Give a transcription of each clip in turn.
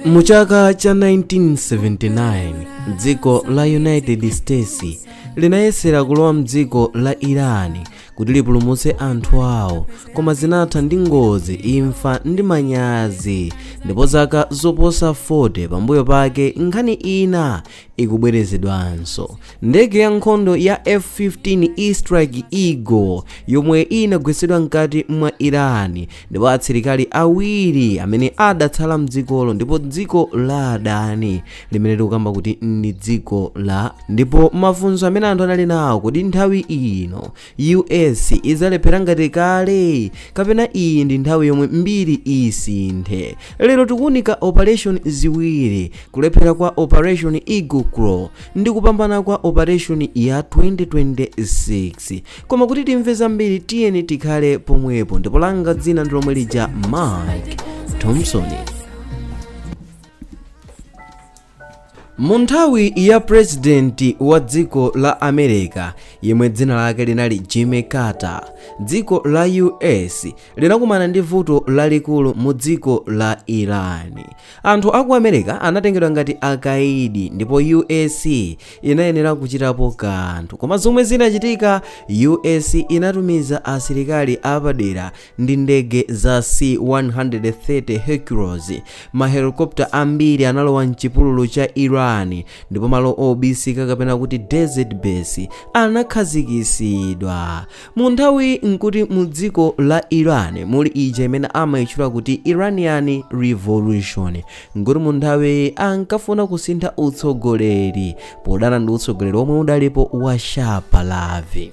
mu chaka cha 1979 dziko la united states linayesera kulowa mdziko la iran kuti lipulumutse anthu awo koma zinatha ndi ngozi imfa ndi manyazi ndipo zaka zoposa 40 pambuyo pake nkhani ina ikubwerezedwanso. Ndege ya nkhondo ya F-15 E Strike Eagle yomwe inagwetsedwa mkati mwa Iran ndipo asilikali awiri amene adatsala mdzikolo ndipo dziko la adani limene tikukamba kuti ndi dziko la ndipo mafunso amene anthu anali nawo kodi nthawi ino US idzalephera ngati kale kapena iyi ndi nthawi yomwe mbiri isinthe lero tikuunika operation ziwiri kulephera kwa operation eagle claw ndi kupambana kwa operation ya 2026 koma kuti timve zambiri tiyeni tikhale pomwepo ndipo langa dzina ndi lomwe lija mike thompson Mu nthawi ya pulezidenti wa dziko la America yemwe dzina lake linali Jimmy Carter, dziko la US linakumana ndi vuto lalikulu mu dziko la Iran. Anthu a ku America anatengedwa ngati akaidi ndipo US inayenera kuchitapo kanthu. Koma zomwe zinachitika, US inatumiza asilikali apadera ndi ndege za C-130 Hercules. Mahelikopta ambiri analowa m'chipululu cha Iran ndipo malo obisika kapena kuti desert base anakhazikisidwa. Mu nthawiyi nkuti mu dziko la Iran muli ija imene amayitchula kuti Iranian Revolution nkuti mu nthawiyi ankafuna kusintha utsogoleri podana ndi utsogoleri omwe udalipo wa Shah Pahlavi.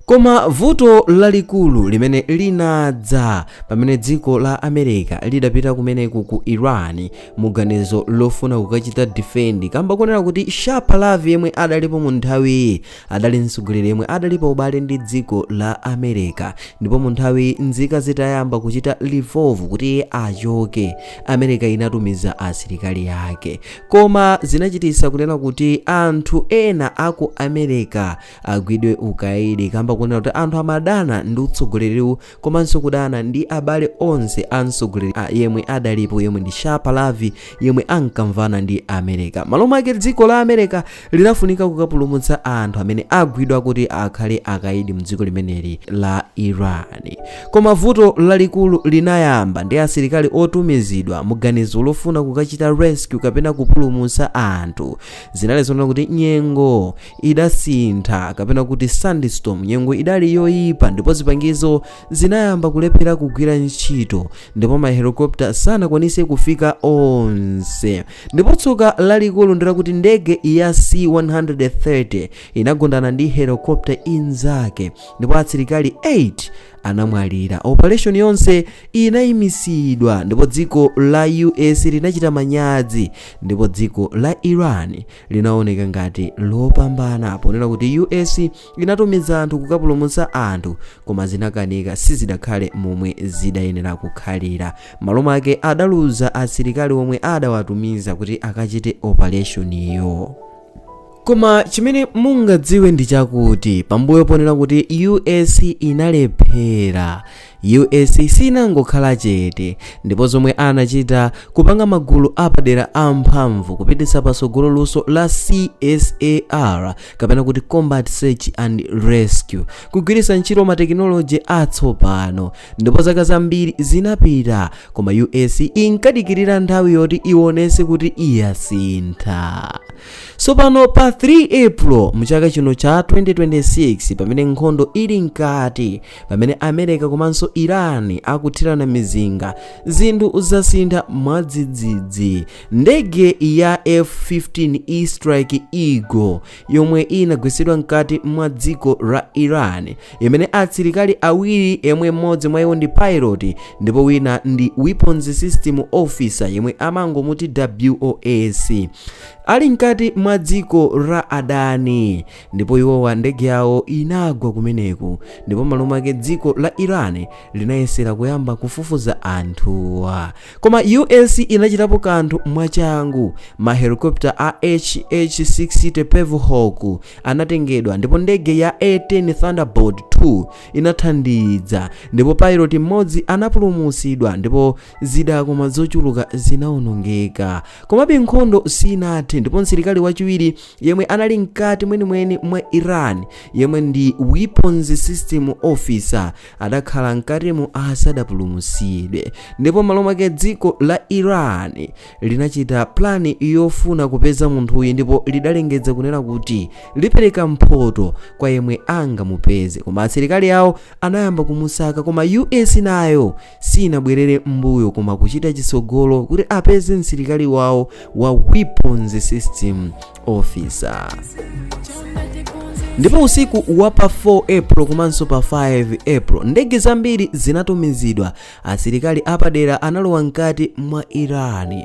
Koma vuto lalikulu limene linadza pamene dziko la America lidapita kumeneko ku Iran muganizo lofuna kukachita defend kamba konena kuti Shah Pahlavi yemwe adalipo mu nthawiyi adali mtsogoleri yemwe adali pa ubale ndi dziko la America ndipo mu nthawi nzika zitayamba kuchita revolt kuti iye achoke America inatumiza asilikali ake koma zinachitisa kunena kuti anthu ena aku America agwidwe ukaidi kamba kunena kuti anthu amadana ndi utsogoleriwu komanso kudana ndi abale onse a mtsogoleri a- yemwe adalipo yemwe ndi shah pahlavi yemwe ankamvana ndi america malo mwake dziko la america linafunika kukapulumutsa anthu amene agwidwa kuti akhale akaidi mdziko limeneli la iran koma vuto lalikulu linayamba ndi asilikali otumizidwa muganizo lofuna kukachita rescue kapena kupulumutsa anthu zinali zonena kuti nyengo idasintha kapena kuti sandstorm nyengo idali yoyipa ndipo zipangizo zinayamba kulephera kugwira ntchito ndipo mahelikopta sanakwanise kufika onse ndipo tsoka lalikulu ndilakuti ndege ya c130 inagundana ndi helikopta inzake ndipo asilikali 8 anamwalira operation yonse inayimitsidwa ndipo dziko la us linachita manyazi ndipo dziko la iran linaoneka ngati lopambana ponena kuti us inatumiza anthu kukapulumutsa anthu koma zinakanika sizidakhale momwe zidayenera kukhalira malo mwake adaluza asilikali omwe adawatumiza kuti akachite operation iyo koma chimene mungadziwe ndi chakuti pambuyo ponena kuti us inalephera US siinangokhala chete, ndipo zomwe anachita, kupanga magulu apadera amphamvu kupititsa patsogolo luso la CSAR, kapena kuti Combat Search and Rescue, kugwiritsa ntchito matekinoloji atsopano. Ndipo zaka zambiri zinapita, koma US inkadikirira nthawi yoti iwonetse kuti yasintha. Tsopano pa 3 April mchaka chino cha 2026, pamene nkhondo ili mkati, pamene america komanso iran akuthirana mizinga zinthu zasintha mwadzidzidzi ndege ya f-15 e strike eagle yomwe inagwetsedwa mkati mwa dziko la iran imene asilikali awiri yemwe mmodzi mwa iwo ndi pilot ndipo wina ndi weapons system officer yemwe amangomuti wos ali mkati mwa dziko la adani ndipo iwowa ndege yawo inagwa kumeneko ndipo malo mwake dziko la iran linayesera kuyamba kufufuza anthuwa koma us inachitapo kanthu mwachangu ma helicopter a hh60 pave hawk anatengedwa ndipo ndege ya a10 thunderbolt 2 inathandiza ndipo pilot mmodzi anapulumutsidwa ndipo zida koma zochuluka zinaonongeka komabe nkhondo sinathe ndipo msilikali wachiwiri yemwe anali mkati mwenimweni mwa iran yemwe ndi weapons system officer adakhala mkatimo asadapulumutsidwe ndipo malo mwake dziko la iran linachita plani yofuna kupeza munthuyu ndipo lidalengeza kunena kuti lipereka mphoto kwa yemwe angamupeze koma asilikali awo anayamba kumusaka koma us nayo siinabwerere m'mbuyo koma kuchita chitsogolo kuti apeze msilikali wawo wa weapons system officer ndipo usiku wa pa 4 april komanso pa 5 april ndege zambiri zinatumizidwa asilikali apadera analowa mkati mwa iran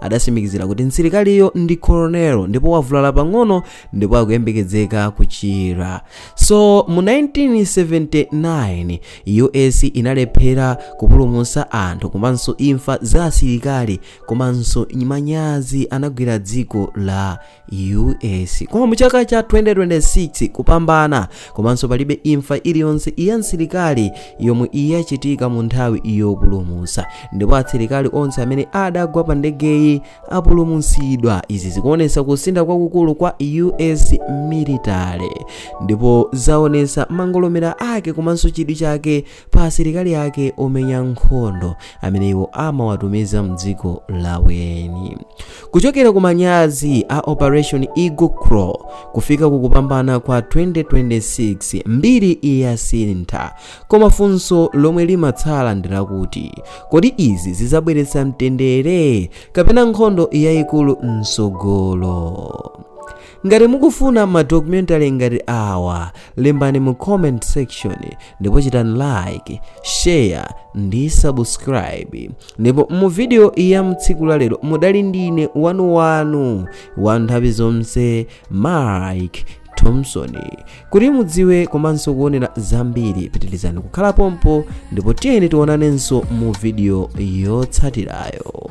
adatsimikizira kuti msilikaliyo ndi colonel ndipo wavulala pang'ono ndipo akuyembekezeka kuchira so mu 1979 us inalephera kupulumutsa anthu komanso imfa za asilikali komanso manyazi anagwira dziko la US koma muchaka cha 2026 kupambana komanso palibe imfa iliyonse ya msilikali yomwe iyachitika mu nthawi yopulumusa ndipo asilikali onse amene adagwa pa ndegeyi apulumusidwa izi zikuonesa kusintha kwakukulu kwa US military ndipo zaonesa mangolomera ake komanso chidwi chake pa asilikali ake omenya nkhondo amene iwo amawatumiza mdziko laweni kuchokera ku manyazi a operation eagle claw kufika ku kupambana kwa 2026 mbiri yasintha koma funso lomwe limatsala ndi lakuti kodi izi zizabweretsa mtendere kapena nkhondo yayikulu msogolo Ngati mukufuna ma documentary ngati awa, lembani mu comment section ndipo chitani like, share ndi subscribe. Ndipo mu video ya mtsiku la lero mudali ndine wanu wanu wa nthawi zonse Mike Thompson. Kuti mudziwe komanso kuonera zambiri, pitirizani kukhala pompo ndipo tiyeni tionanenso mu video yotsatirayo.